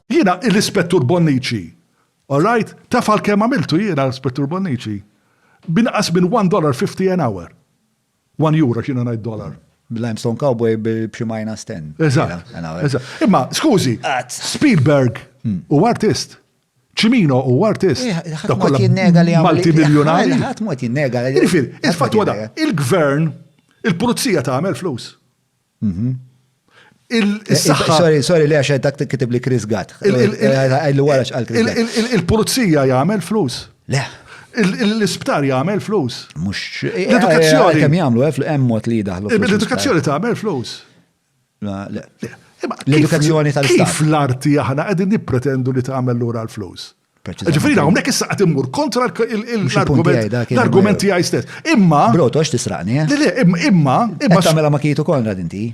Jiena l-Ispettur Bonnici. All right? Taf għal kemm għamiltu jiena, Ispettur Bonnici? B'inqas minn one dollar fifty an hour. One euro, x'jiena ngħid dollar. Limestone Cowboy b'xi minus ten. Eżatt. Imma, skużi, Spielberg hmm. u artist. Cimino u artist. Eh, ħadd ma jinnega li Malti miljunari. Ħadd ma jinnega li. Ġifier, il-fatt il-gvern, il-pulizija tagħmel flus. Mhm. Il-saħħa. Sorry, sorry, li għax dak kitib li Chris Gatt. Għajlu wara xqal Chris Gatt. Il-pulizija jagħmel flus. Le. L-isptar jagħmel flus. Mux. L-edukazzjoni. Kemm jagħmlu eh, hemm mod li daħlu. L-edukazzjoni tagħmel flus. L-edukazzjoni tal-istat. Kif l-arti aħna qegħdin nippretendu li tagħmel lura l-flus? Ġifiri, hawnhekk issa qed immur kontra l-argument tiegħi stess. Imma. Broto għax tisraqni. Eh? Le, le, imma, imma. Imma tagħmilha ma kitu konra dinti.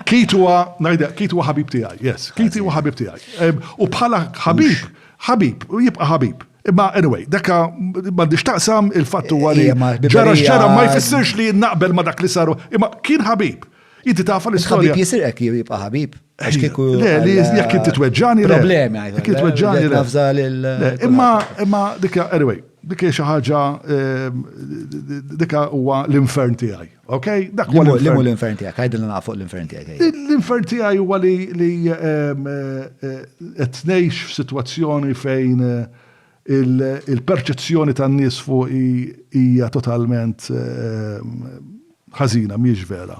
Kitu huwa, ngħidha, kitu huwa ħabib tiegħi, yes. Kitu huwa ħabib tiegħi. U bħala ħabib, ħabib, u jibqa' ħabib. Imma anyway, dakka m'għandix taqsam il-fatt huwa li ġara x'ġara ma jfissirx li naqbel ma dak li saru, imma kien ħabib. Inti tafa l-istorja. Ħabib jisirek jibqa' ħabib. Għax kieku. Le, li jekk inti tweġġani. Problemi għajdu. Kieku tweġġani. Nafza lil. Imma, imma, dikka, anyway, dikka xi ħaġa, ehm, dikka huwa l-infern tiegħi. Ok? Dak huwa l-infern tiegħek, għajdu li nafu l-infern tiegħek. L-infern tiegħi huwa li ehm, eh, eh, qed ngħix f'sitwazzjoni fejn eh, Il-perċezzjoni tan-nies fuqi hija totalment ħażina, mhijiex vera.